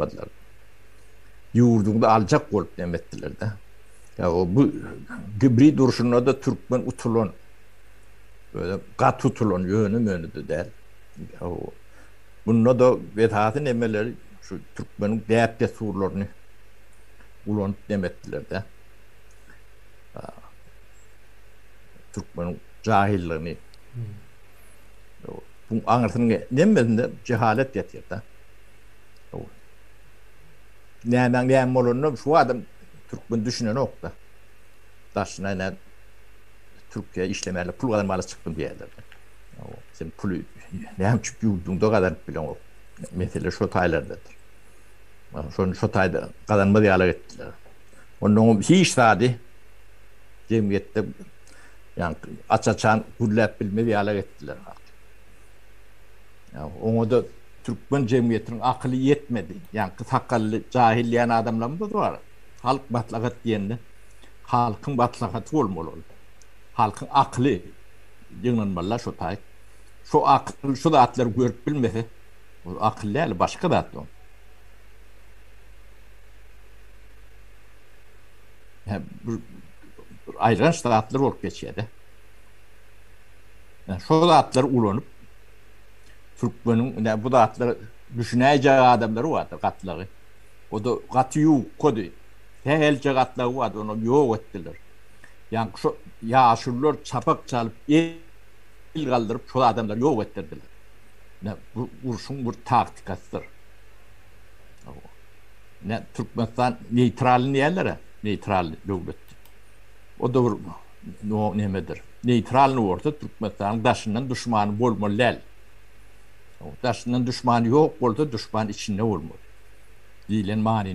Badlar. Ýurduňyzy aljak bolup neme etdiler-dä. Ýa-o bu gibrid urşunda-da türkmen utulan. Özem gaty utulan, ýöne-möne-de däl. Ýa-o bunda-da esasy nemeleri şu türkmeniň däp-dessurlaryny ulanyp neme etdiler-dä. A türkmeniň jahyllygyny. Ýa-o buň aňyrsynyň nemmesinde jehalet ýatyr-da. Nämäň näme bolanyna şu adam türkmen düşünenokda. Daşyna ine Türkiýä işlemäli, pul gazanmaly çykdym diýýärler. Sen puly näme üçin ýurduňda gazanyp bileňok? Mesele şo taýlardadyr. Şony şo taýda gazanmaz ýalak etdiler. Onnoň hiç zady jemgyýetde ýa aç-açan gürläp bilmez ýalak etdiler. Oňa-da türkmen jemgyýetiniň akyly ýetmedi. Ýaňky sakally jahyl diýen adamlarymyz-da bar. Halk maslahat diýende, halkyň maslahaty bolmaly ol. Halkyň akyly ýygnanmaly-da şo taýy. Şo akyl şu zatlary görüp bilmese, ol akyl däl, başga zat ol. Bir aýylganç zatlar bolup geçýär-de. Şo zatlary ulanyp. Türkmeniň ine bu zatlar düşünäýjek adamlary bardy gatlagy. O-da gaty ýuwkady. Sähelçe gatlagy bardy, ony ýok etdiler. Ýaňky şo ýaşulular çapak çalyp, el galdyryp şol adamlary ýok etdirdiler. Ine bu urşuň bir taktikasydyr. Ine Türkmenistan neýtralny diýerler-ä, neýtral döwlet diýip. O da bir nemedir. Neýtralnyý bolsa Türkmenistanyň daşyndan duşmany bolmaly däl. Daşyndan duşmany ýok bolsa duşman içinde bolmaly. Diýlen manyny.